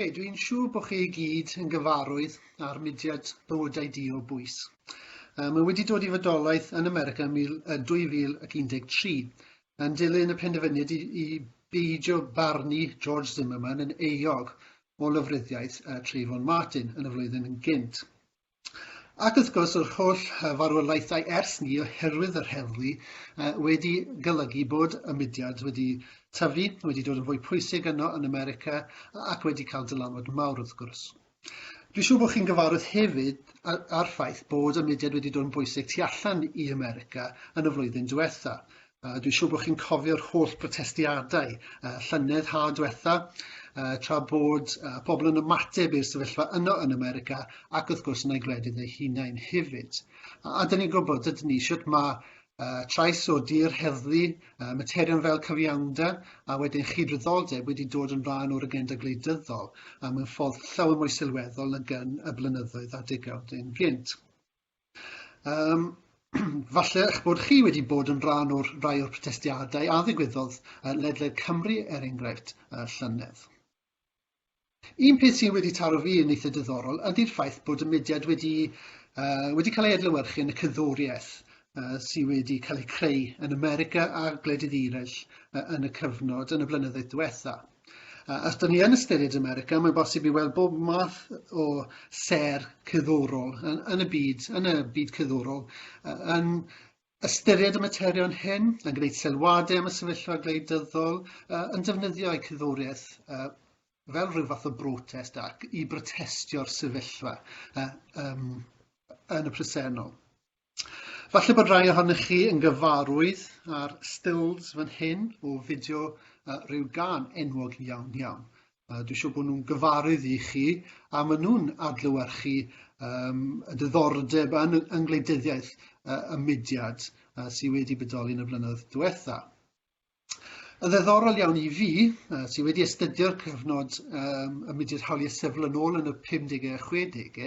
Hey, dwi'n siŵr bod chi i gyd yn gyfarwydd â'r mudiad bywydau di o bwys. Um, mae wedi dod i fodolaeth yn America yn 2013 yn dilyn y penderfyniad i, i beidio barnu George Zimmerman yn euog o lyfryddiaeth uh, Trayvon Martin yn y flwyddyn yn gynt. Ac wrth gwrs yr holl farwolaethau ers 'ny oherwydd yr heddlu wedi golygu bod y mudiad wedi tyfu, wedi dod yn fwy pwysig yno yn America ac wedi cael dylanwad mawr wrth gwrs. Dwi'n siŵr bod chi'n gyfarwydd hefyd â'r ffaith bod y mudiad wedi dod yn bwysig tu allan i America yn y flwyddyn diwetha'. Uh, dwi'n siŵr bod chi'n cofio'r holl brotestiadau uh, llynedd ha diwetha, uh, tra bod uh, pobl yn ymateb i'r sefyllfa yno yn America ac wrth gwrs yn ei gwledydd ei hunain hefyd. A, a dyn ni'n gwybod, dydyn ni, sut mae uh, trais o dir heddlu, uh, materion fel cyfiawnder a wedyn chyd-ryddoldeb wedi dod yn rhan o'r agenda gwleidyddol a mewn ffordd llawer mwy sylweddol nag yn y blynyddoedd a degawd yn gynt. Um, falle eich bod chi wedi bod yn rhan o'r rai o'r protestiadau a ddigwyddodd uh, ledled Cymru, er enghraifft, uh, llynedd. Un peth sy'n wedi taro fi yn eitha diddorol ydy'r ffaith bod y mudiad wedi, uh, wedi cael ei adlewyrchu yn y cyddoriaeth uh, sydd wedi cael ei creu yn America a gwledydd eraill uh, yn y cyfnod yn y blynyddoedd diwetha. A os dyn ni yn ystyried America, mae'n bosib i weld bob math o ser cyddorol yn, yn y byd, yn y byd cyddorol, yn ystyried y materion hyn, yn gwneud sylwadau am y sefyllfa gwleidyddol, yn defnyddio eu cyddoriaeth fel rhyw fath o brotest ac i brotestio'r sefyllfa yn y presennol. Falle bod rhai ohonych chi yn gyfarwydd â'r stills fan hyn o fideo uh, rhyw gan enwog iawn iawn. Uh, Dwi'n siŵr bod nhw'n gyfarydd i chi a maen nhw'n adlywyrchu um, y diddordeb yn, yng ngwleidyddiaeth uh, y mudiad uh, sydd wedi bodoli yn y blynyddoedd diwetha. Yn ddiddorol iawn i fi, sydd wedi astudio'r cyfnod um, y mudiad hawliau sifil yn ôl yn y 50au a 60au,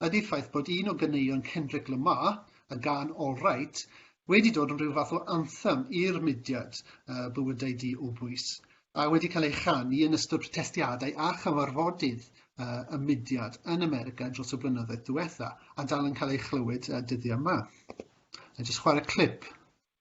ydy'r ffaith bod un o ganeuon Kendrick Lamar, y gan All Right, wedi dod yn rhyw fath o anthem i'r mudiad uh, bywydau di o bwys, a wedi cael ei chanu yn ystod protestiadau a chyfarfodydd uh, y mudiad yn America dros y blynyddoedd diwetha, a dal yn cael ei chlywed uh, dyddiau yma. A jyst chwarae clip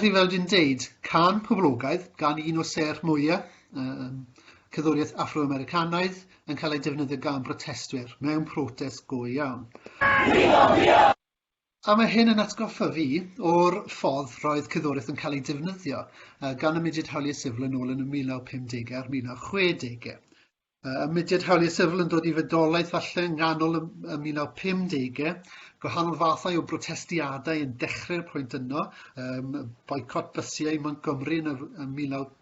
Felly, fel dwi'n deud, cân poblogaidd gan un o sêr mwyaf um, cerddoriaeth Afro-Americanaidd yn cael ei defnyddio gan brotestwyr mewn protest go iawn. A mae hyn yn atgoffa fi o'r ffordd roedd cyddoriaeth yn cael ei defnyddio gan y mudiad hawliau sifl yn ôl yn y 1950au a'r 1960au. Y mudiad hawliau sifl yn dod i fedolaeth falle yng nghanol y 1950au, gwahanol fathau o brotestiadau yn dechrau'r pwynt yno, um, boicot bysiau Montgomery yn y 1950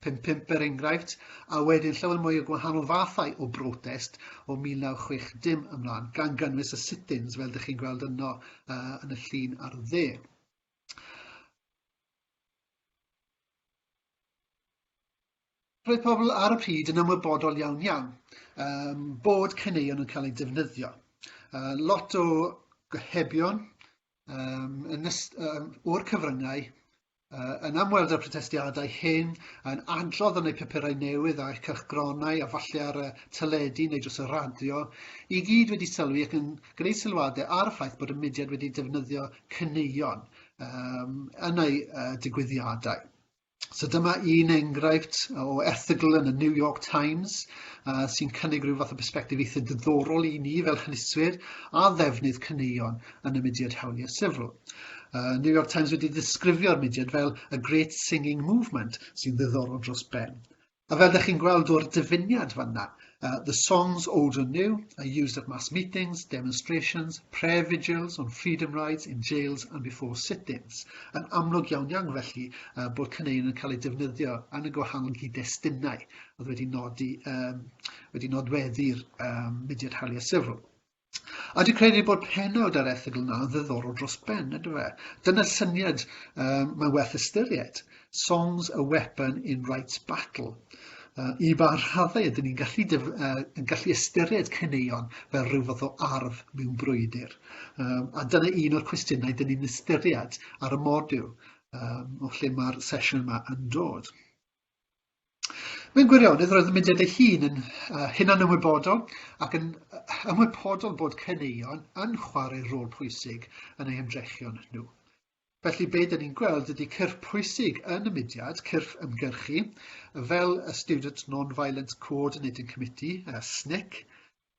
Pump pump er enghraifft, a wedyn llawer mwy o gwahanol fathau o brotest o 1960 ymlaen, gan gynnwys y sit-ins fel dych chi'n gweld yno uh, yn y llun ar y dde. Roedd pobl ar y pryd yn ymwybodol iawn iawn um, bod caneuon yn cael eu defnyddio. Uh, lot o gohebion um, yn um, o'r cyfryngau Uh, yn amweld y protestiadau hyn, yn adrodd yn ei papurau newydd a'u cylchgronau a falle ar y teledu neu dros y radio, i gyd wedi sylwi ac yn gwneud sylwadau ar y ffaith bod y mudiad wedi defnyddio cyneuon um, yn ei uh, digwyddiadau. So dyma un enghraifft o erthygl yn y New York Times uh, sy'n cynnig rhyw fath o bersbectif eitha diddorol i ni fel hynyswyr a ddefnydd cyneuon yn y mudiad hawliau sifil. Uh, New York Times wedi disgrifio'r mudiad fel y Great Singing Movement sy'n ddiddorol dros ben. A fel ydych chi'n gweld o'r dyfyniad fanna, uh, the songs old and new are used at mass meetings, demonstrations, prayer vigils on freedom rides in jails and before sit-ins. Yn amlwg iawn iawn felly uh, bod cyneuon yn cael eu defnyddio yn y gwahanol gyd-destunau oedd wedi nodi um, wedi nodweddu'r um, mudiad hawliau sifil. A dwi'n credu bod penawd ar erthygl yna yn ddiddorol dros ben, ydw e? Dyna'r syniad um, mae'n werth ystyried. Songs a weapon in rights battle. Uh, I ba rhaddau ydyn ni'n gallu, def, uh, yn gallu ystyried cyneuon fel rhyw fath o arf mewn brwydr? Um, a dyna un o'r cwestiynau dyn ni'n ystyried ar y modiwl um, o lle mae'r sesiwn yma yn dod. Mewn gwirionedd, roedd y mudiad ei hun yn hunanymwybodol ac yn ymwybodol bod caneuon yn chwarae rôl pwysig yn eu hymdrechion nhw. Felly, be dyn ni'n gweld ydy cyrff pwysig yn y mudiad, cyrff ymgyrchu, fel y Student Non-Violent Coordinating Committee, SNCC,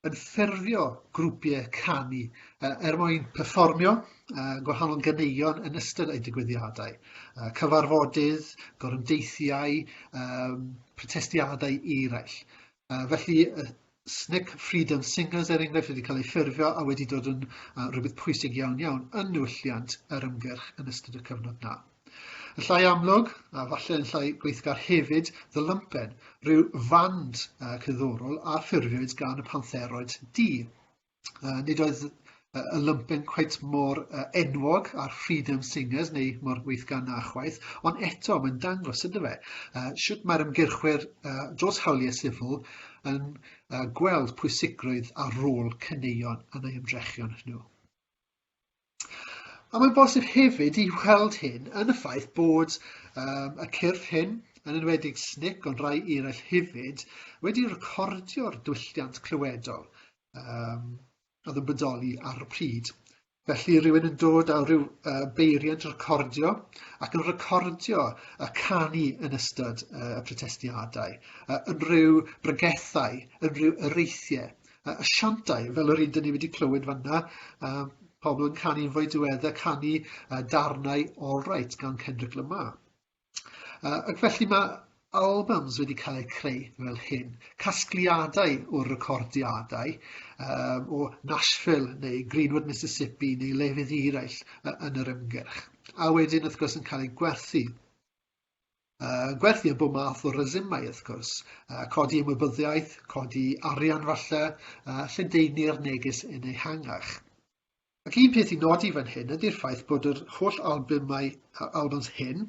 yn ffurfio grwpiau canu uh, er mwyn perfformio uh, gwahanol ganeuon yn ystod eu digwyddiadau. Uh, cyfarfodydd, gorymdeithiau, um, protestiadau eraill. Uh, felly, uh, Snick Freedom Singers er enghraifft wedi cael ei ffurfio a wedi dod yn uh, rhywbeth pwysig iawn iawn yn newylliant yr ymgyrch yn ystod y cyfnod na. Yn llai amlwg, a falle yn llai gweithgar hefyd, The Lumpen, rhyw fand uh, cyddorol a ffurfiwyd gan y pantheroid du. Uh, nid oedd uh, y lumpen cweit mor uh, enwog a'r Freedom Singers neu mor weithgar na chwaith, ond eto mae'n dangos ydy fe. Uh, sut mae'r ymgyrchwyr uh, dros hawliau sifil yn uh, gweld pwysigrwydd a rôl cyneuon yn ei ymdrechion nhw. A mae'n bosib hefyd i weld hyn yn y ffaith bod um, y cyrff hyn, yn enwedig SNIC ond rai eraill hefyd, wedi recordio'r dwylliant clywedol um, oedd yn bodoli ar y pryd. Felly rhywun yn dod â rhyw uh, beiriant recordio ac yn recordio y canu yn ystod uh, y protestiadau, uh, unrhyw brygethau, unrhyw ereithiau uh, asiantau, fel yr un dyn ni wedi clywed fanna, uh, pobl yn canu yn fwy diweddau, canu uh, darnau All Right gan Kendrick Lamar. Uh, ac felly mae albums wedi cael eu creu fel hyn, casgliadau o recordiadau um, o Nashville neu Greenwood, Mississippi neu lefydd eraill uh, yn yr ymgyrch. A wedyn, wrth gwrs, yn cael eu gwerthu Uh, gwerthu bob math o resymau, wrth gwrs. Uh, codi ymwybyddiaeth, codi arian falle, uh, lledaenu'r neges yn ei hangach. Ac un peth i nodi fan hyn ydy'r ffaith bod yr holl albymau albums hyn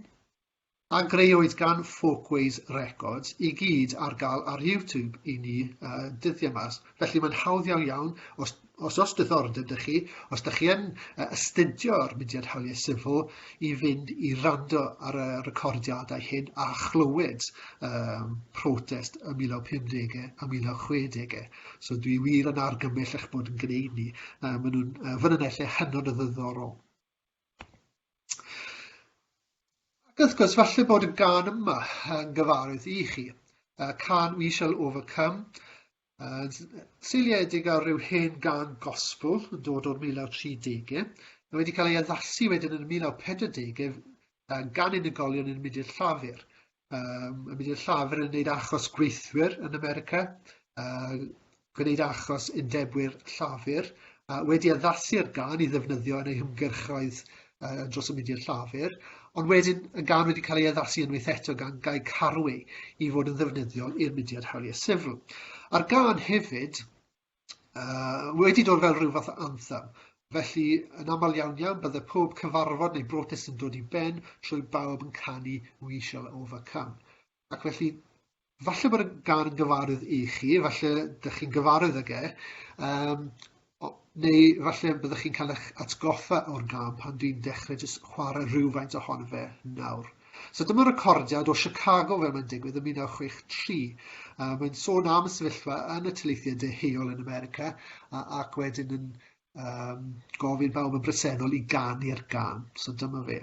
a greuwyd gan Folkways Records i gyd ar gael ar YouTube i ni uh, dyddiau mas. Felly mae'n hawdd iawn iawn, os Os oes diddordeb 'da chi, os da chi yn astudio ar Mudiad Hawliau Sifil, i fynd i rando ar y recordiadau hyn a chlywed um, protest y 1950 a 1960. So dwi wir yn argymell eich bod yn gwneud ni. Um, maen nhw'n uh, fynonellau hynod o ddiddorol. Ac wrth gwrs, falle bod y gan yma yn gyfarwydd i chi. Uh, can We Shall Overcome, Yn seiliedig ar ryw hen gan gospel yn dod o'r 1930au, mae wedi cael ei addasu wedyn yn y 1940au uh, gan unigolion yn mynd i'r llafur. Um, yn mynd i'r llafur yn gwneud achos gweithwyr yn America, uh, gwneud achos undebwyr llafur, a wedi addasu ar gan i ddefnyddio yn ei hymgyrchoedd uh, dros y mudiad llafur, ond wedyn yn gan wedi cael ei addasu unwaith eto gan gael carwy i fod yn ddefnyddiol i'r mudiad hawliau sifl. A'r gan hefyd uh, wedi dod fel rhyw fath o anthem, felly yn aml iawn iawn bydde pob cyfarfod neu brotest yn dod i ben trwy bawb yn canu We Shall Overcome. Ac felly, falle bod y gan yn gyfarwydd i chi, falle dych chi'n gyfarwydd ag e, um, o, neu falle byddwch chi'n cael eich atgoffa o'r gan pan dwi'n dechrau jyst chwarae rhywfaint ohono fe nawr. So dyma recordiad o Chicago fel mae'n digwydd yn 1963. Uh, mae'n sôn am y sefyllfa yn y tyleithiau deheuol yn America uh, ac wedyn yn um, gofyn bawb yn bresennol i ganu'r gan. So dyma fe.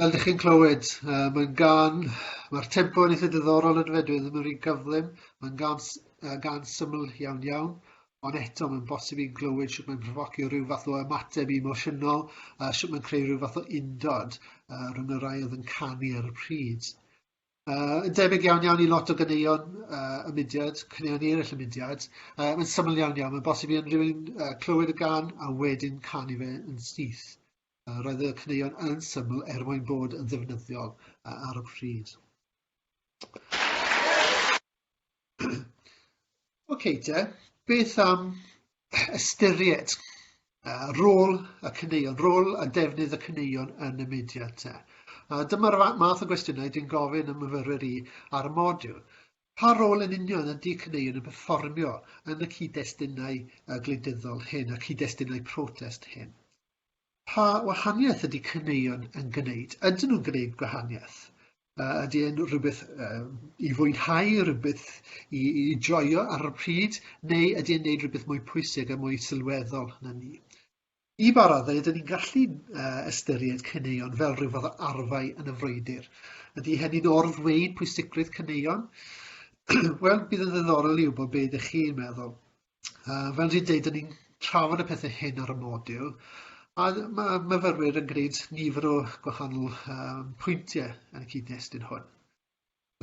Fel dych chi'n clywed, uh, mae'n gan, mae'r tempo yn eitha diddorol yn fe, dwi ddim yn rhy gyflym, mae'n gan, uh, gan syml iawn iawn, ond eto mae'n bosib i'n glywed sut mae'n profocio rhyw fath o ymateb emosiynol, uh, sut mae'n creu rhyw fath o undod uh, rhwng y rai oedd yn canu ar y pryd. Uh, yn debyg iawn iawn i lot o gyneuon uh, y mudiad, cyneuon eraill y mudiad, uh, mae'n syml iawn iawn, mae'n bosib i unrhywun uh, clywed y gan a wedyn canu fe yn syth. Yy, roedd y caneuon yn syml er mwyn bod yn ddefnyddiol yy ar y pryd. OK te, beth am ystyried uh, rôl y caneuon, rôl a defnydd y caneuon yn y mudiad te? A dyma'r math o gwestiynau dwi'n gofyn y myfyrwyr i ar y modiwl. Pa rôl yn union ydy caneuon yn performio yn y cyd-destunau gwleidyddol hyn, y cyd-destunau protest hyn? Pa wahaniaeth ydy caneuon yn gwneud? Ydyn nhw'n gwneud gwahaniaeth? Uh, ydy e'n rhywbeth uh, i fwynhau, rhywbeth i, i joio ar y pryd, neu ydy e'n gwneud rhywbeth mwy pwysig a mwy sylweddol na ni? I ba raddau ydyn ni'n gallu uh, ystyried caneuon fel rhyw fath o arfau yn y frwydr? Ydy hynny'n orddweud pwysigrwydd caneuon? Wel, bydd yn ddiddorol i wybod beth ydych chi'n meddwl. Uh, fel dwi'n dweud, dyn ni'n trafod y pethau hyn ar y modiwl, a mae myfyrwyr yn gwneud nifer o gwahanol um, pwyntiau yn y cyd-destun hwn.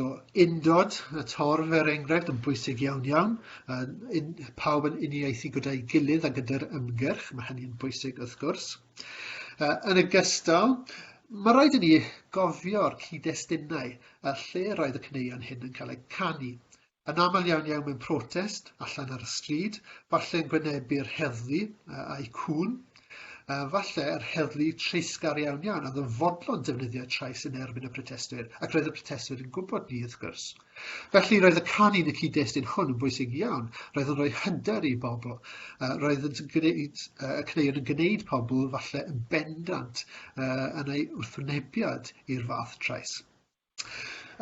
So, undod, y torf er enghraifft, yn bwysig iawn iawn. Uh, in, pawb yn uniaethu gyda'i gilydd a gyda'r ymgyrch, mae hynny'n bwysig wrth gwrs. Uh, yn y gystal, mae rhaid i ni gofio'r cyd-destunau a lle roedd y cyneuon hyn yn cael eu canu. Yn aml iawn iawn mewn protest, allan ar y stryd, falle yn gwynebu'r heddlu a'i cŵn, falle yr heddlu treisgar iawn iawn oedd yn fodlon defnyddio trais yn erbyn y protestwyr, ac roedd y protestwyr yn gwybod ni, wrth gwrs. Felly roedd y canu yn y cyd-destun hwn yn bwysig iawn, roedd yn rhoi hynder i bobl, roedd yn gwneud, y cneuon yn gwneud pobl falle yn bendant yn ei wrthwynebiad i'r fath trais.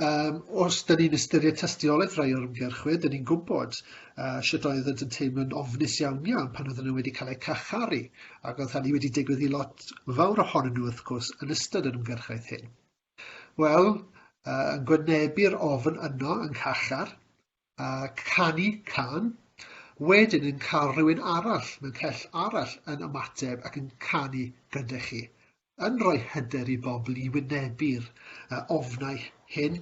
Um, os da ni'n ystyried tystiolaeth rai o'r ymgyrchwyr, da ni'n gwybod uh, sut oedd yn teimlo'n ofnus iawn iawn pan oedden nhw wedi cael eu carcharu, ac oedd hynny wedi digwydd i lot fawr ohonyn nhw, wrth gwrs, yn ystod yr ymgyrchaeth hyn. Wel, uh, yn gwynebu'r ofn yno yng ngharchar, uh, canu can, wedyn yn cael rhywun arall mewn cell arall yn ymateb ac yn canu gyda chi, yn rhoi hyder i bobl i wynebu'r uh, ofnau hyn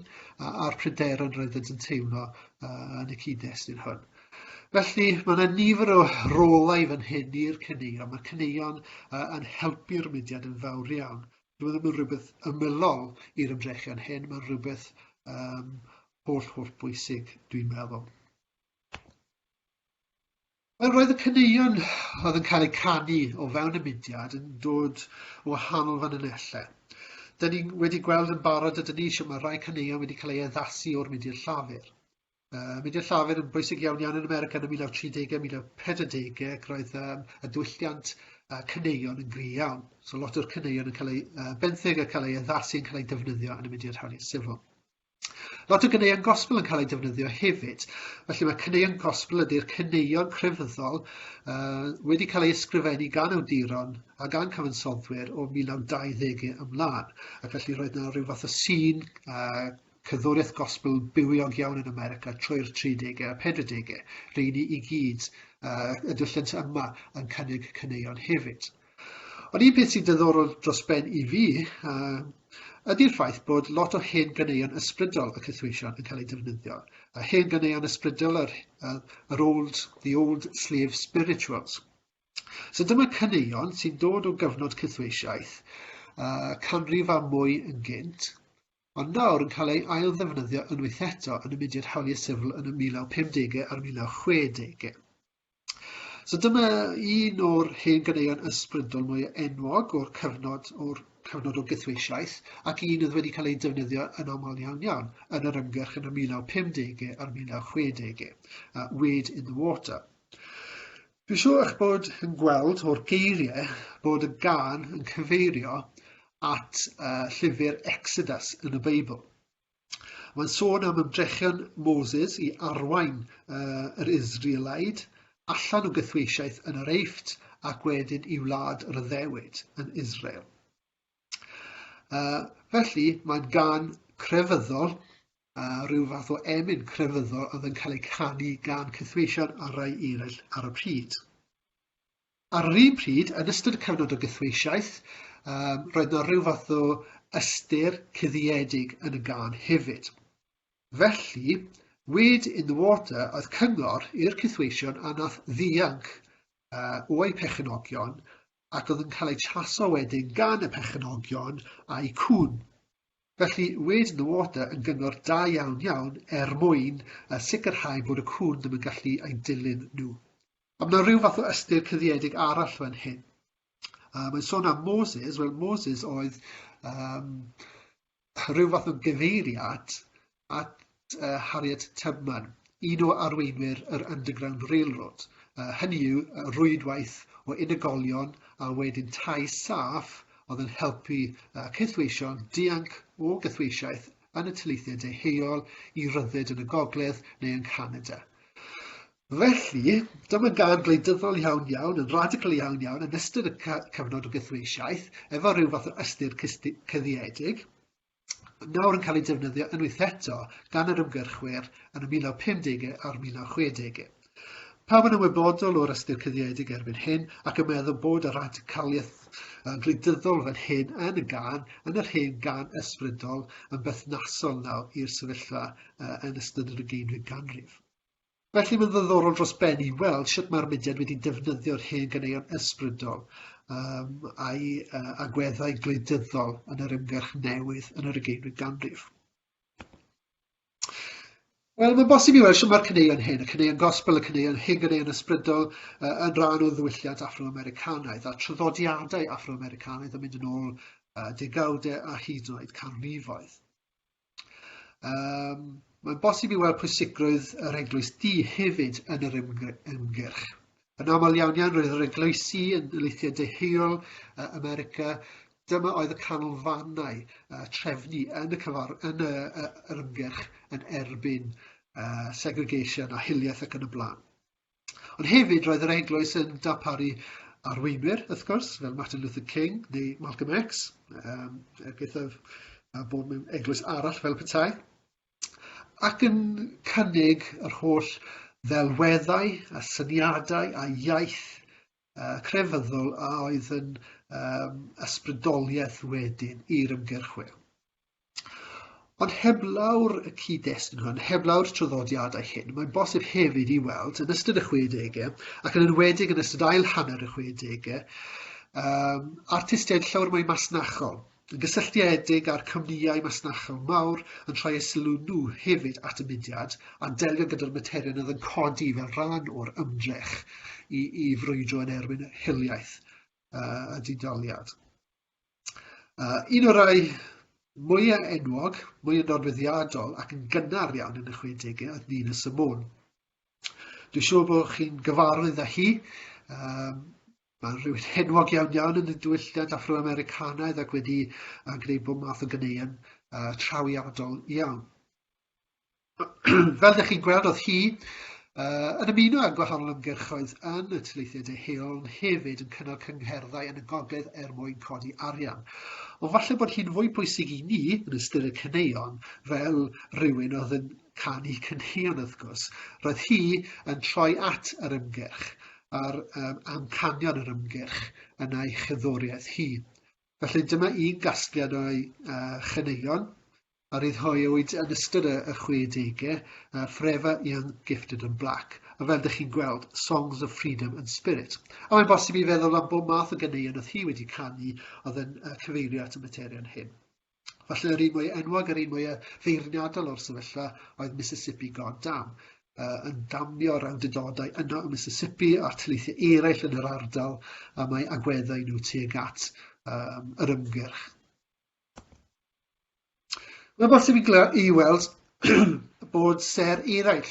a'r pryderon roedd yn teimlo uh, yn y cyd-destun hwn. Felly, mae yna nifer o rolau fan hyn i'r cyneuon. Mae cyneuon uh, yn helpu'r mudiad yn fawr iawn. Dwi'n meddwl mae'n rhywbeth ymylol i'r ymdrechion hyn, mae'n rhywbeth um, holl holl bwysig dwi'n meddwl. Wel, roedd y caneuon oedd yn cael eu canu o fewn y mudiad yn dod o wahanol fanylellau. Dyn ni wedi gweld yn barod ydyn ni eisiau mae rhai caneuon wedi cael ei addasu o'r mudiad llafur. Uh, mudiad llafur yn bwysig iawn iawn yn America yn y 1930au, 1940au, ac roedd um, y dwylliant uh, caneuon yn gri iawn. So lot o'r caneuon yn cael ei uh, benthyg a cael ei addasu yn cael ei defnyddio yn y mudiad hawliau sifil. Lot o ganeuon gospel yn cael eu defnyddio hefyd. Felly mae caneuon gospel ydy'r caneuon crefyddol uh, wedi cael eu ysgrifennu gan awduron a gan cyfansoddwyr o 1920 ymlaen. Ac felly roedd yna rhyw fath o sîn uh, cyddwriaeth gospel bywiog iawn yn America trwy'r 30au a 40au. Rydyn ni i gyd uh, y dwylliant yma yn cynnig caneuon hefyd. Ond un peth sy'n dyddorol dros ben i fi ydy'r ffaith bod lot o hen ganeuon ysbrydol y cythweision yn cael eu defnyddio. A hen ganeuon ysbrydol yr, yr old, the old slave spirituals. So dyma caneuon sy'n dod o gyfnod cythweisiaeth uh, canrif a mwy yn gynt, ond nawr yn cael ei ail ddefnyddio unwaith eto yn y mudiad hawliau sifl yn y 1950au a'r 1960au. So dyma un o'r hen ganeuon ysbrydol mwy enwog o'r cyfnod, o'r cyfnod o gythweisiaeth, ac un oedd wedi cael ei defnyddio yn aml iawn iawn yn yr ymgyrch yn y 1950 a'r 1960, uh, Wade in the Water. Dwi'n siŵr eich bod yn gweld o'r geiriau bod y gan yn cyfeirio at uh, llyfr Exodus yn y Beibl. Mae'n sôn am ymdrechion Moses i arwain uh, yr Israelaid allan o gythweisiaeth yn yr Eift ac wedyn i wlad yr addewid yn Israel. Uh, felly, mae'n gan crefyddol, uh, rhyw fath o emyn crefyddol oedd yn cael ei canu gan cythweision a rai eraill ar y pryd. Ar yr un pryd, yn ystod y cyfnod o gythweisiaeth, roedd 'na ryw fath o ystyr cuddiedig yn y gân hefyd. Felly, Weed in the Water oedd cyngor i'r cythweision a nath ddianc o'u perchenogion ac oedd yn cael eu traso wedyn gan y perchenogion a'u cŵn. Felly, Weed in the Water yn gyngor da iawn iawn er mwyn sicrhau bod y cŵn ddim yn gallu eu dilyn nhw. Mae yna rhyw fath o ystyr cyddiedig arall fan hyn. Uh, mae'n sôn am Moses, wel Moses oedd um, rhyw fath o gyfeiriad at uh, Harriet Tubman, un o arweinwyr yr Underground Railroad. Uh, hynny yw rwydwaith o unigolion a wedyn tai saff oedd yn helpu uh, cythweision dianc o gythweisiaeth yn y tyleithiau deheuol i ryddid yn y gogledd neu yn Canada. Felly, dyma gân gwleidyddol iawn iawn, yn radical iawn iawn, yn ystod y cyfnod o gythreisiaeth, efo rhyw fath o ystyr cyddiedig, nawr yn cael ei defnyddio unwaith eto gan yr ymgyrchwyr yn y 1950au a'r 1960au. Pawb yn ymwybodol o'r ystyr cyddiedig erbyn hyn ac yn meddwl bod y radicaliaeth gwleidyddol fan hyn yn y gan, yn yr hen gan ysbrydol, yn berthnasol nawr i'r sefyllfa yn ystod yr ugeinfed ganrif. Felly mae'n ddiddorol dros ben i weld sut mae'r mudiad wedi defnyddio'r hen ganeuon ysbrydol um, a'i uh, agweddau gwleidyddol yn yr ymgyrch newydd yn yr ugeinfyd ganrif. Wel, mae'n bosib i weld sut mae'r caneuon hyn, y caneuon gospel, y caneuon hen ganeuon ysbrydol, uh, yn rhan o ddwylliant Afro-Americanaidd a traddodiadau Afro-Americanaidd yn mynd yn ôl uh, degawdau a hyd yn oed canrifoedd. Um, mae'n bosib i weld pwysigrwydd yr eglwys di hefyd yn yr ymgyrch. Yn aml iawn iawn roedd yr eglwysi yn leithiau deheol uh, America, dyma oedd y canolfannau uh, trefnu yn y, cyfar, yn y, uh, yr ymgyrch yn erbyn uh, segregation a hiliaeth ac yn y blaen. Ond hefyd roedd yr eglwys yn darparu arweinwyr, wrth gwrs, fel Martin Luther King neu Malcolm X, um, er gythaf a bod mewn eglwys arall fel petai, ac yn cynnig yr holl ddelweddau a syniadau a iaith uh, crefyddol a oedd yn um, ysbrydoliaeth wedyn i'r ymgyrchwyr. Ond heblaw'r cyd-destun hwn, heblaw'r traddodiadau hyn, mae'n bosib hefyd i weld yn ystod y 60au, ac yn enwedig yn ystod ail hanner y 60au, um, artistiaid llawer mwy masnachol, yn gysylltiedig â'r cwmnïau masnachol mawr yn rhoi eu sylw nhw hefyd at y mudiad a delio gyda'r materion oedd yn codi fel rhan o'r ymdrech i, i frwydro yn erbyn hiliaeth uh, a didaliad. Uh, un o'r rhai mwyaf enwog, mwyaf nodweddiadol ac yn gynnar iawn yn y 60au oedd Nina Simone. Dwi'n siŵr bod chi'n gyfarwydd â hi. Um, Mae'n rhywun henwog iawn iawn yn y diwylliant Afro-Americanaidd ac wedi uh, gwneud bod math o gyneuon uh, trawiadol iawn. Fel ydych chi'n gweld, oedd hi uh, yn ymuno â gwahanol ymgyrchoedd yn y tyleithiau deheuol, ond hefyd yn cynnal cyngherddau yn y gogledd er mwyn codi arian. Ond falle bod hi'n fwy pwysig i ni, yn ystyr y cyneuon, fel rhywun oedd yn canu cynheuon wrth gwrs, roedd hi yn troi at yr ymgyrch a'r um, amcanion yr ymgyrch yn ei chyddoriaeth hi. Felly dyma un gasgliad o'i uh, chyneuon, a ryddhauwyd yn ystod y 60au, Forever Young, Gifted and Black, a fel dych chi'n gweld, Songs of Freedom and Spirit. A mae'n bosib i feddwl am bob math o ganeuon oedd hi wedi canu oedd yn cyfeirio at y materion hyn. Falle yr un mwy enwog a'r un mwy feirniadol o'r sefyllfa oedd Mississippi God Dam, yn damio rawdydodau yno y Mississippi a'r tyleithiau eraill yn yr ardal a mae agweddau nhw tuag at yr ymgyrch. Mae'n bosib i, gla- i weld bod ser eraill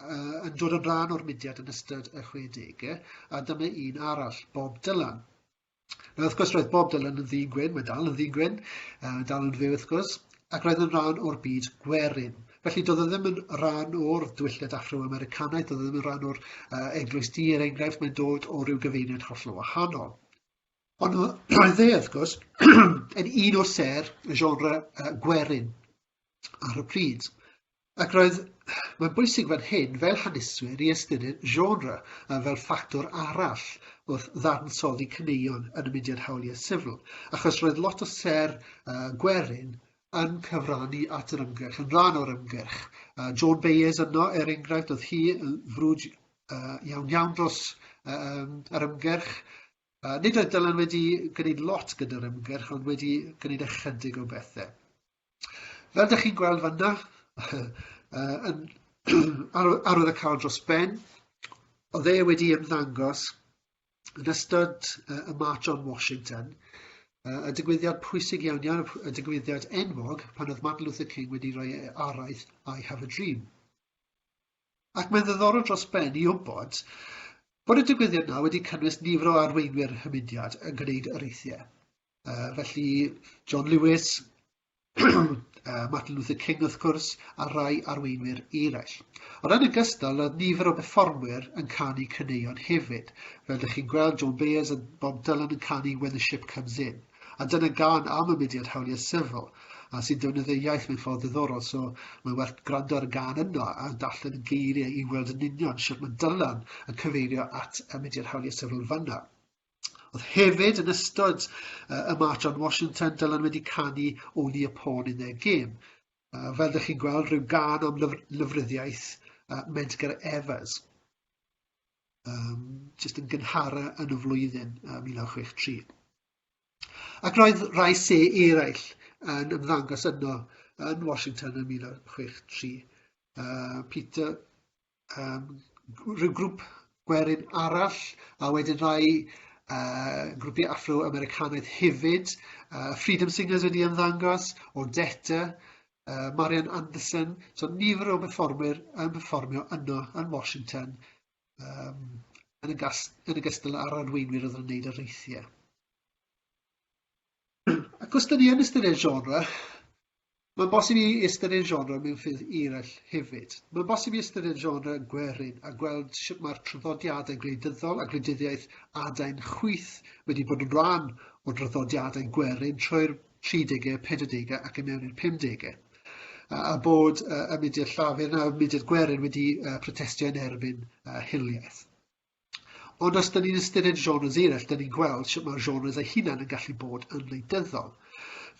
uh, yn dod yn rhan o'r mudiad yn ystod y 60au, a dyma un arall, Bob Dylan. Nawr, wrth gwrs, roedd Bob Dylan yn ddyn gwyn, mae dal yn ddyn gwyn, uh, dal yn fyw, wrth gwrs, ac roedd yn rhan o'r byd gwerin. Felly, doedd e ddim yn rhan o'r dwylliad Afro-Americanaidd, doedd e ddim yn rhan o'r uh, eglwys di, er enghraifft, mae'n dod o ryw gyfeiriad hollol wahanol. Ond roedd e, wrth gwrs, yn un o ser y genre uh, gwerin ar y pryd. Ac roedd, mae'n bwysig fan hyn, fel haneswyr, i ystyried genre uh, fel ffactor arall wrth ddadansoddi cyneuon yn y mudiad hawliau sifil, achos roedd lot o ser uh, gwerin yn cyfrannu at yr ymgyrch, yn rhan o'r ymgyrch. Uh, John Bayes yno, er enghraifft, oedd hi yn frwd uh, iawn iawn dros um, yr ymgyrch, Uh, nid oedd Dylan wedi gwneud lot gyda'r ymgyrch, ond wedi gwneud ychydig o bethau. Fel ydych chi'n gweld fanna, uh, yn, arwydd y cael dros ben, o dde wedi ymddangos yn ystod uh, y March on Washington, uh, y digwyddiad pwysig iawn iawn, y digwyddiad enwog pan oedd Martin Luther King wedi rhoi araith I have a dream. ac mae'n ddiddorol dros ben i wybod bod y digwyddiad yna wedi cynnwys nifer o arweinwyr y mudiad yn gwneud areithiau. Uh, felly, John Lewis, uh, Martin Luther King wrth gwrs, a rai arweinwyr eraill. Ond yn ogystal, roedd nifer o berfformwyr yn canu caneuon hefyd. Fel ydych chi'n gweld, John Bayers a Bob Dylan yn canu When the Ship Comes In. A dyna gân am y mudiad hawliau sifil a sy'n defnyddio'r iaith mewn ffordd ddiddorol, so mae'n werth gwrando ar y gân yno a darllen y geiriau i weld yn union sut mae Dylan yn cyfeirio at y mudiad hawliau sifil fanna. Oedd hefyd yn ystod uh, y march on Washington, Dylan wedi canu Only a Pawn in Their Game. Uh, fel ydych chi'n gweld, rhyw gân am lyfr, lyfryddiaeth uh, Medgar Evers. um, jyst yn gynhara yn y flwyddyn uh, 1963. Ac roedd rhai se eraill yn ymddangos yno yn Washington yn 1963. Uh, Peter, um, rhyw grŵp gwerin arall, a wedyn rhai uh, grwpiau Afro-Americanaidd hefyd. Uh, Freedom Singers wedi ymddangos, Odetta, uh, Marian Anderson, so nifer o berfformwyr yn performio yno yn Washington um, yn, y gas, yn y gystal ar arweinwyr oedd yn gwneud yr eithiau. Ac os dyn ni yn ystyried genre, mae'n bosib i ystyried genre mewn ffydd eraill hefyd. Mae'n bosib i ystyried genre yn gwerin a gweld sut mae'r traddodiadau gwleidyddol a gwleidyddiaeth adain chwyth wedi bod yn rhan o draddodiadau gwerin trwy'r 30au, 40au ac yn mewn i'r 50au. A, a bod uh, y mudiad llafur na y mudiad gwerin wedi uh, protestio yn erbyn uh, hiliaeth. Ond os dyn ni'n ystyried genres eraill, dyn ni'n gweld sut mae'r genres ei hunan yn gallu bod yn wleidyddol.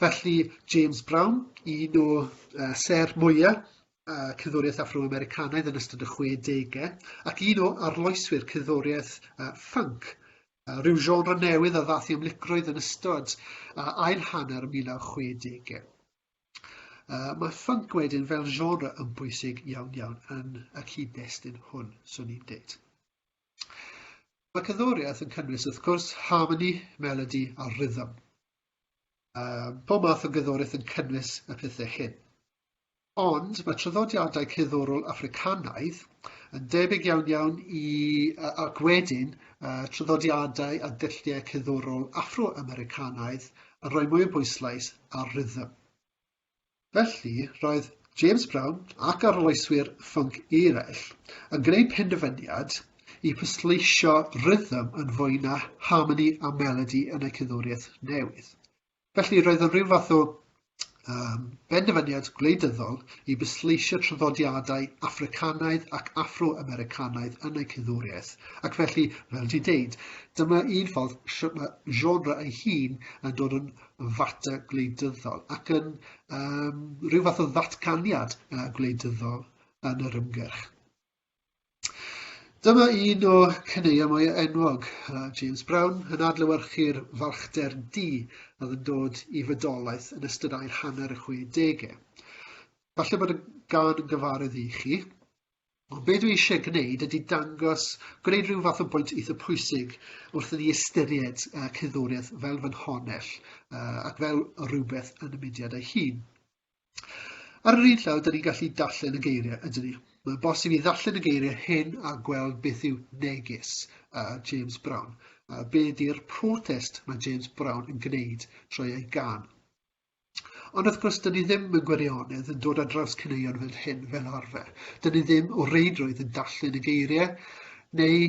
Felly, James Brown, un o uh, ser mwyaf uh, cyddwriaeth Afro-Americanaidd yn ystod y 60au, ac un o arloeswyr cyddwriaeth uh, funk Rhyw genre newydd a ddath i amlygrwydd yn ystod uh, ail hanner y 1960au. Uh, mae ffync wedyn fel genre yn bwysig iawn iawn yn y cyd-destun hwn, swn i'n dweud. Mae cyddoriaeth yn cynnwys, wrth gwrs, harmony, melody a rhythm. Um, pob math o gyddoriaeth yn cynnwys y pethau hyn. Ond mae traddodiadau cerddorol Affricanaidd yn debyg iawn iawn i, ac wedyn, traddodiadau a dulliau cerddorol Affro-Americanaidd yn rhoi mwy o bwyslais ar rhythm. Felly, roedd James Brown ac arloeswyr ffwnc eraill yn gwneud penderfyniad i pwysleisio rhythm yn fwy na harmoni a melodi yn eu cerddoriaeth newydd. Felly, roedd yn rhyw fath o um, benderfyniad gwleidyddol i bwysleisio traddodiadau Affricanaidd ac Afro-Americanaidd yn eu cyddwriaeth. Ac felly, fel di deud, dyma un ffordd sut mae genre ei hun yn dod yn fater gwleidyddol ac yn um, rhyw fath o ddatganiad uh, gwleidyddol yn yr ymgyrch. Dyma un o caneuon mwy enwog James Brown yn adlewyrchu'r farchder du oedd yn dod i fodolaeth yn ystod ail hanner y 60au. Falle bod y gan yn gyfarwydd i chi, ond be dwi eisiau gwneud ydy dangos, gwneud rhyw fath o bwynt eitha pwysig wrth i ni ystyried uh, cerddoriaeth fel fy nhonell uh, ac fel rhywbeth yn y mudiad ei hun. Ar yr un llaw, dyn ni'n gallu darllen y geiriau, ydyn ni. Mae'n bosib i ddarllen y geiriau hyn a gweld beth yw neges uh, James Brown. Uh, be ydy'r protest mae James Brown yn gwneud trwy ei gan. Ond wrth gwrs, dyn ni ddim yn gwirionedd yn dod ar draws cyneuon fel hyn fel arfer. Dyn ni ddim o reidrwydd yn darllen y geiriau, neu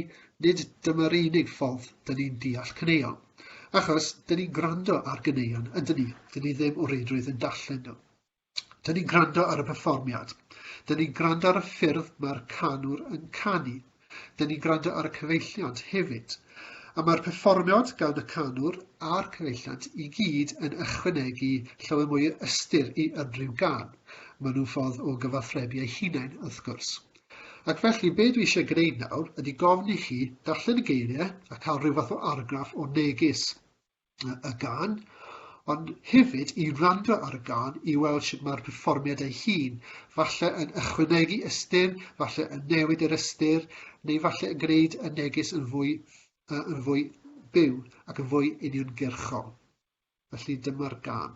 nid dyma'r unig ffordd dyn ni'n deall cyneuon. Achos, dyn ni'n gwrando ar gyneuon, ydyn ni. Dyn ni ddim o reidrwydd yn dallen nhw. Dyn ni'n gwrando ar y perfformiad. Dyn ni'n gwrando ar y ffyrdd mae'r canwr yn canu. Dyn ni'n gwrando ar y cyfeilliant hefyd. A mae'r perfformiad gan y canwr a'r cyfeilliant i gyd yn ychwanegu llawer mwy o ystyr i unrhyw gan. Maen nhw'n ffordd o gyfathrebu eu hunain, wrth gwrs. Ac felly, be dwi eisiau gwneud nawr ydy gofyn i chi darllen y geiriau a cael rhyw fath o argraff o neges y gân, ond hefyd i wrando ar y gân i weld sut mae'r perfformiad ei hun, falle yn ychwanegu ystyr, falle yn newid yr ystyr, neu falle yn gwneud y neges yn fwy, uh, yn fwy byw ac yn fwy uniongyrchol. Felly dyma'r gân.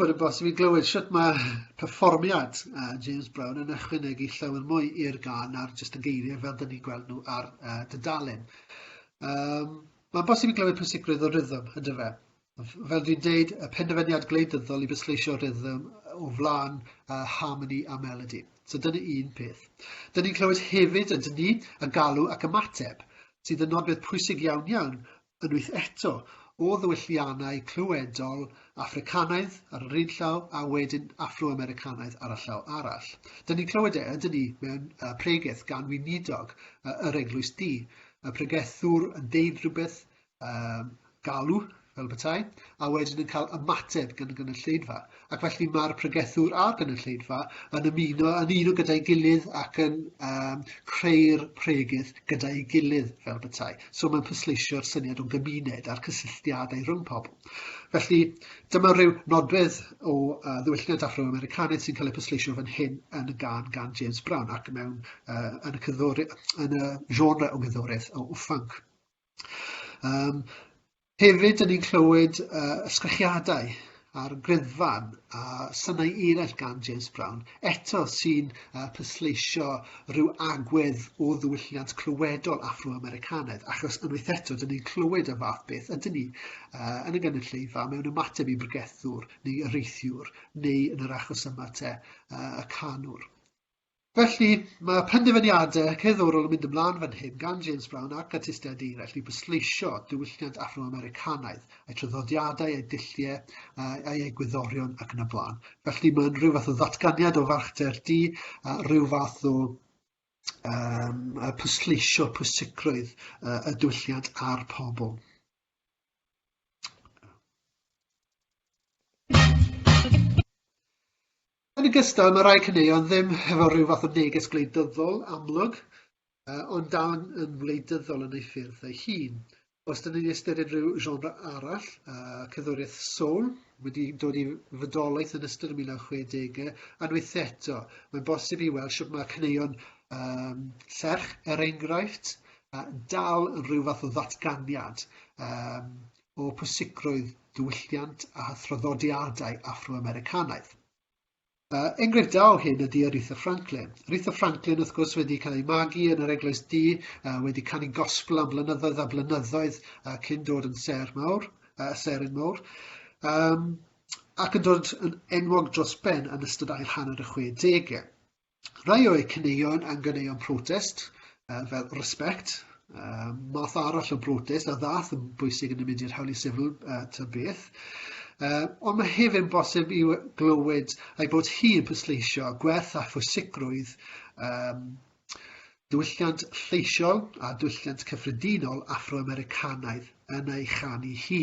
bod yn bosib i glywed sut mae perfformiad uh, James Brown yn ychwanegu llawer mwy i'r gan ar jyst y geiriau fel dyn ni'n gweld nhw ar uh, dydalen. Um, mae'n bosib i glywed pwysigrwydd o rhythm, ydy fe? fel dwi'n deud, y penderfyniad gwleidyddol i bwysleisio rhythm o flaen uh, harmony a melody. So dyna un peth. Dyna ni'n clywed hefyd yn ni y galw ac ymateb, sydd yn nodwedd pwysig iawn iawn unwaith eto o ddywylliannau clywedol Africanaidd ar yr un llaw a wedyn Afro-Americanaidd ar y llaw arall. Dyna ni'n clywed e, ydyn ni, mewn uh, pregeth gan weinidog uh, yr Eglwys Di, y pregethwr yn deud rhywbeth um, galw, fel bethau, a wedyn yn cael ymateb gan y gynulleidfa. Ac felly mae'r pregethwr a'r gynulleidfa yn ymuno yn un o gyda'i gilydd ac yn um, creu'r pregydd gyda'i gilydd fel bethau. So mae'n pwysleisio'r syniad o'n gymuned a'r cysylltiadau rhwng pobl. Felly dyma rhyw nodwedd o uh, ddiwylliant Afro-Americanaidd sy'n cael ei pwysleisio fan hyn yn y gan gan James Brown ac mewn uh, yn y, yn y genre o gyddoriaeth o, o ffunk. Yym hefyd yn ni'n clywed uh, ysgrechiadau a'r gryddfan a synau eraill gan James Brown, eto sy'n uh, pysleisio rhyw agwedd o ddiwylliant clywedol Afro-Americanaidd, achos unwaith eto, dyn ni'n clywed y fath beth, ydyn ni uh, yn y gynulleidfa mewn ymateb i bregethwr neu areithiwr, neu yn yr achos yma te, uh, y canwr. Felly, mae penderfyniadau cerddorol yn mynd ymlaen fan hyn gan James Brown ac artistiaid eraill i bwysleisio diwylliant Afro-Americanaidd, eu traddodiadau, eu dulliau, eu egwyddorion ac yn y blaen. Felly mae'n rhyw fath o ddatganiad o farchdder di, rhyw fath o um, pwysleisio pwysigrwydd uh, y diwylliant a'r pobl. Yn ogystal, mae rhai caneuon ddim hefo rhyw fath o neges gwleidyddol amlwg, ond dal yn, yn wleidyddol yn ei ffyrdd ei hun. Os dyn ni'n ystyried rhyw genre arall, uh, cyddwriaeth soul, wedi dod i fydolaeth yn ystod y 1960au, unwaith eto, mae'n bosib i weld sut mae caneuon um, serch, er enghraifft, uh, dal yn rhyw fath o ddatganiad um, o pwysigrwydd diwylliant a thraddodiadau Affro-Americanaidd. Uh, enghraifft da o hyn ydy Aretha Franklin. Aretha Franklin, wrth gwrs, wedi cael ei magu yn yr Eglwys Du, uh, wedi canu gospel am blynyddoedd a blynyddoedd uh, cyn dod yn ser mawr, uh, serin mawr. Um, ac yn dod yn enwog dros ben yn ystod ail hanner y 60au. Rhai o'u caneuon yn ganeuon protest, uh, fel respect, uh, math arall o brotest a ddath yn bwysig yn y mudiad hawliau sifil uh, ta beth. Uh, ond mae hefyd yn bosib i glywed ei bod hi yn pwysleisio gwerth a phwysigrwydd um, diwylliant lleisiol a diwylliant cyffredinol Afro-Americanaidd yn ei chanu hi.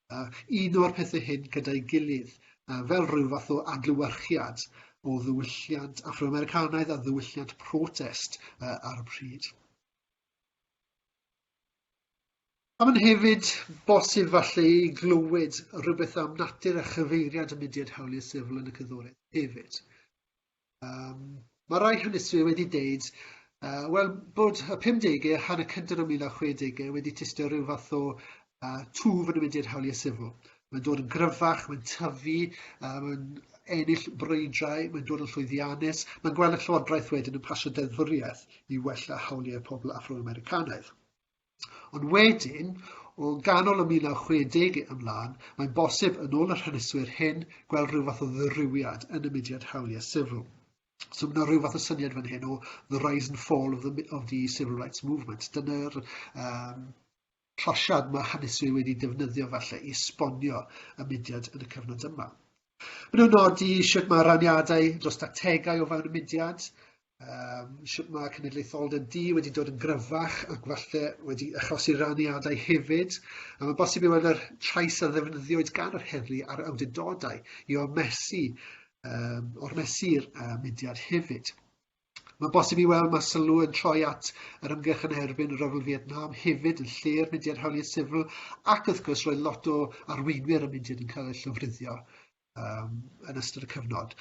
uno'r pethau hyn gyda'i gilydd fel rhyw fath o adlewyrchiad o ddiwylliant Afro-Americanaidd a ddiwylliant protest ar y pryd. A mae'n hefyd bosib falle i glywed rhywbeth am natur a chyfeiriad y mudiad hawliau sifl yn y cyddoriaeth hefyd. Yym ma' rai hynny sy wedi deud yy wel bod y pumdege a hanner cynta o'r mil naw chwedege wedi tystio ryw fath o yy twf yn mynd i'r hawliau sifil. Mae'n dod yn gryfach, mae'n tyfu, yy mae'n ennill brwydrau, mae'n dod yn llwyddiannus. Mae'n gweld y llywodraeth wedyn yn pasio deddfwriaeth i wella hawliau pobl Afro-Americanaidd. Ond wedyn, o ganol y 1960 ymlaen, mae'n bosib, yn ôl yr haneswyr hyn, gweld rhyw fath o ddirywiad yn y mudiad hawliau sifil. So mae yna rhyw fath o syniad fan hyn o the rise and fall of the, of the civil rights movement. Dyna'r um, closiad mae haneswyr wedi defnyddio falle i sbonio y mudiad yn y cyfnod yma. Maen nhw'n nodi sut mae raniadau dros strategau o fewn y mudiad, um, sut mae cenedlaetholdeb di wedi dod yn gryfach ac falle wedi achosi raniadau hefyd, a mae bosib i weld yr trais a ddefnyddiwyd gan yr heddlu a'r awdurdodau i ormesu, um, ormesu'r uh, mudiad hefyd. Mae'n bosib i weld mae sylw yn troi at yr ymgyrch yn erbyn y Rhyfel Fietnam hefyd yn lle'r mudiad hawliau sifl ac wrth gwrs roedd lot o arweinwyr y mudiad yn cael eu llofruddio um, yn ystod y cyfnod.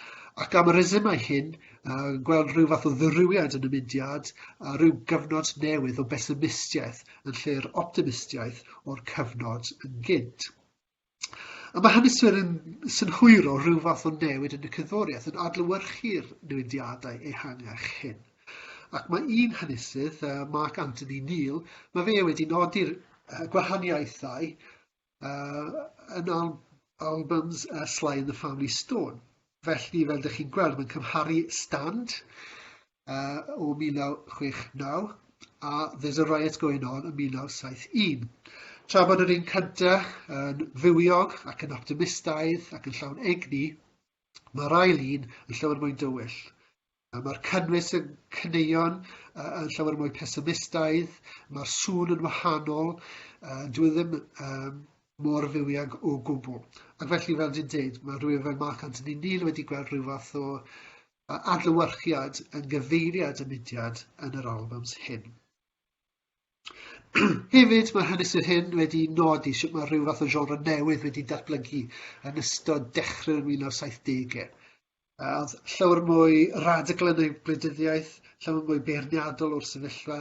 Ac am y resymau hyn, uh, gweld rhyw fath o ddyrywiad yn y mudiad a rhyw gyfnod newydd o besymistiaeth yn lle'r optimistiaeth o'r cyfnod yn gynt. A mae haneswyr yn synhwyro rhyw fath o newid yn y cerddoriaeth yn adlewyrchu'r newidiadau ehangach hyn. Ac mae un hanesydd, Mark Anthony Neal, mae fe wedi nodi'r gwahaniaethau yn albums Sly and the Family Stone. Felly, fel ydych chi'n gweld, mae'n cymharu Stand uh, o 1969 a There's a Riot Going On yn 1971. Tra bod yr un cyntaf yn fywiog ac yn optimistaidd ac yn llawn egni, mae'r ail un yn llawer mwy dywyll. Mae'r cynnwys yn cyneuon yn llawer mwy pesimistaidd, mae'r sŵn yn wahanol, dwi ddim um, mor fywiog o gwbl. Ac felly, fel dwi'n dweud, mae rhywun fel Mark Anthony Neal wedi gweld rhyw fath o a adlewyrchiad yn gyfeiriad y mudiad yn yr albums hyn. Hefyd, mae haneswyr hyn wedi nodi sut mae rhyw fath o genre newydd wedi datblygu yn ystod dechrau'r 1970au. Oedd llawer mwy radical yn ei gwleidyddiaeth, llawer mwy beirniadol o'r sefyllfa,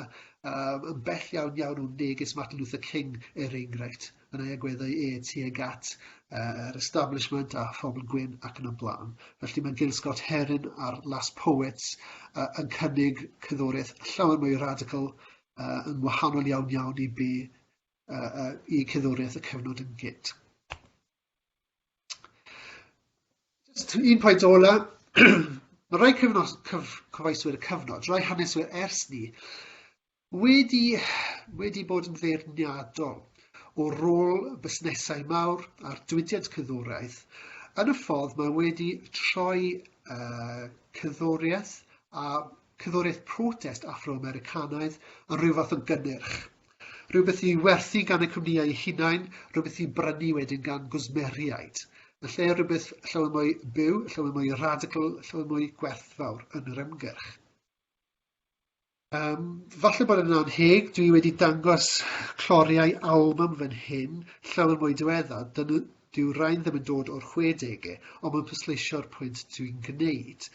um, yn bell iawn iawn o neges Martin Luther King, er enghraifft. yn ei agweddau e tuag at uh, yr establishment a phobl gwyn ac yn y blaen. Felly mae Gil Scott Heron a'r Last Poets uh, yn cynnig cyddoriaeth llawer mwy radical uh, yn wahanol iawn iawn i be uh, uh, i cyddoriaeth y cyfnod yn gynt. Just un pwynt ola, mae rhai cyfnos, cyf, cyfaiswyr y cyfnod, rhai haneswyr ers ni, Wedi, wedi bod yn feirniadol o rôl busnesau mawr a'r diwydiant cyddoriaeth, yn y ffordd mae wedi troi uh, cyddoriaeth a cyddoriaeth protest Afro-Americanaidd yn rhyw fath o gynnyrch. Rhywbeth i werthu gan y cwmnïau eu hunain, rhywbeth i brynu wedyn gan gwsmeriaid. Yn lle rhywbeth llawer mwy byw, llawer mwy radical, llawer mwy gwerthfawr yn yr ymgyrch. Um, falle bod yn anheg, dwi wedi dangos cloriau album fan hyn, llawer mwy diwedda, dyna, dyw rhain ddim yn dod o'r 60au, ond mae'n pwysleisio'r pwynt dwi'n gwneud.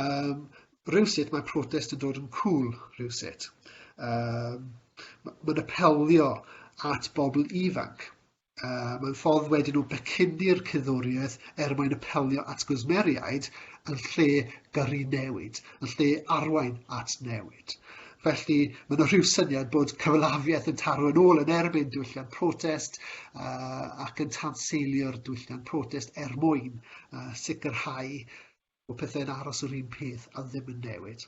Um, rhywsut mae protest yn dod yn cool rhywsut. Um, mae'n apelio at bobl ifanc. Uh, mae'n ffordd wedyn nhw becynnu'r cyddoriaeth er mwyn apelio at gwsmeriaid yn lle gyrru newid, yn lle arwain at newid. Felly, mae'n yna rhyw syniad bod cyfalafiaeth yn taro yn ôl yn erbyn diwylliant protest uh, ac yn tanseilio'r diwylliant protest er mwyn uh, sicrhau bod pethau'n aros yr un peth a ddim yn newid.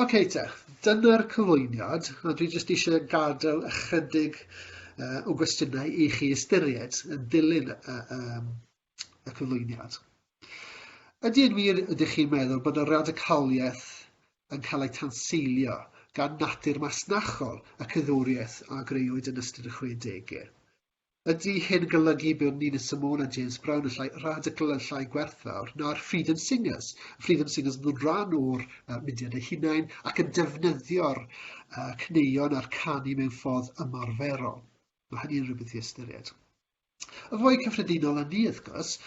Ok te, dyna'r cyflwyniad, a dwi jyst eisiau gadael ychydig uh, o gwestiynau i chi ystyried yn dilyn y, um, y cyflwyniad. Ydy yn wir ydych chi'n meddwl bod y radicaliaeth yn cael ei tanseilio gan natur masnachol y cyddwriaeth a greuwyd yn ystod y 60au? Ydy hyn yn golygu bod ni'n y Samoan a James Brown yn llai radical, yn llai gwerthfawr na'r Freedom Singers? Y Freedom Singers yn nhw'n rhan o'r uh, mudiad eu hunain ac yn defnyddio'r uh, cneuon a'r canu mewn ffordd ymarferol. Mae hynny'n rhywbeth i ystyried. Y fwy cyffredinol yn ni, wrth gwrs,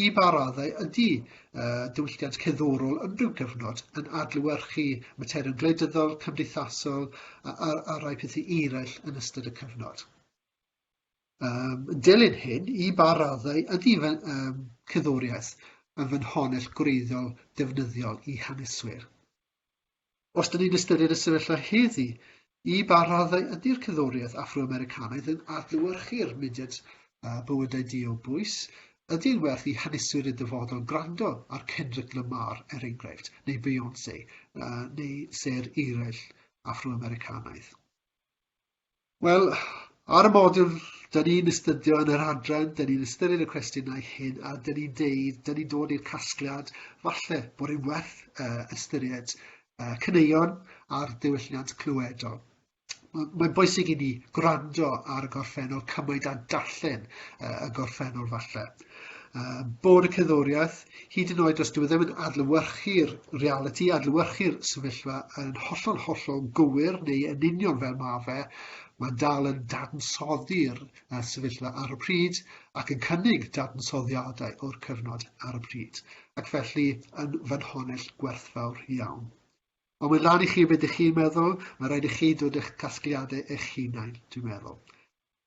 i ba raddau ydy uh, diwylliant ceddorol yn rhyw gyfnod yn adlywyrchu materion gwleidyddol, cymdeithasol a, a, a rai pethau eraill yn ystod y cyfnod. Yn dilyn hyn, i ba raddau ydy fy cerddoriaeth yn fy nhaunell gwreiddiol ddefnyddiol i haneswyr? Os dyn ni'n ystyried y sefyllfa heddi, i ba raddau ydy'r cerddoriaeth Affro-Americanaidd yn adlewyrchu'r mudiad bywydau di o bwys? Ydy'n werth i haneswyr y dyfodol gwrando ar Kendrick Lamar, er enghraifft, neu Beyonce, neu sêr eraill Affro-Americanaidd? Wel, ar y modiwl da ni'n astudio yn yr adran, da ni'n ystyried y cwestiynau hyn a da ni'n deud, da ni'n dod i'r casgliad, falle bod yn werth uh, ystyried uh, cyneuon a'r diwylliant clywedol. Mae'n bwysig i ni gwrando ar y gorffennol cymaint a darllen uh, y gorffennol falle. uh, bod y cerddoriaeth, hyd yn oed os dwi e ddim yn adlywyrchu'r reality, adlywyrchu'r sefyllfa yn hollol hollol gywir neu yn union fel mae fe, mae'n dal yn dadansoddi'r uh, sefyllfa ar y pryd ac yn cynnig dadansoddiadau o'r cyfnod ar y pryd, ac felly yn fanhonell gwerthfawr iawn. Ond mae'n lan i chi beth ydych chi'n meddwl, mae'n rhaid i chi dod eich casgliadau eich hunain, dwi'n meddwl.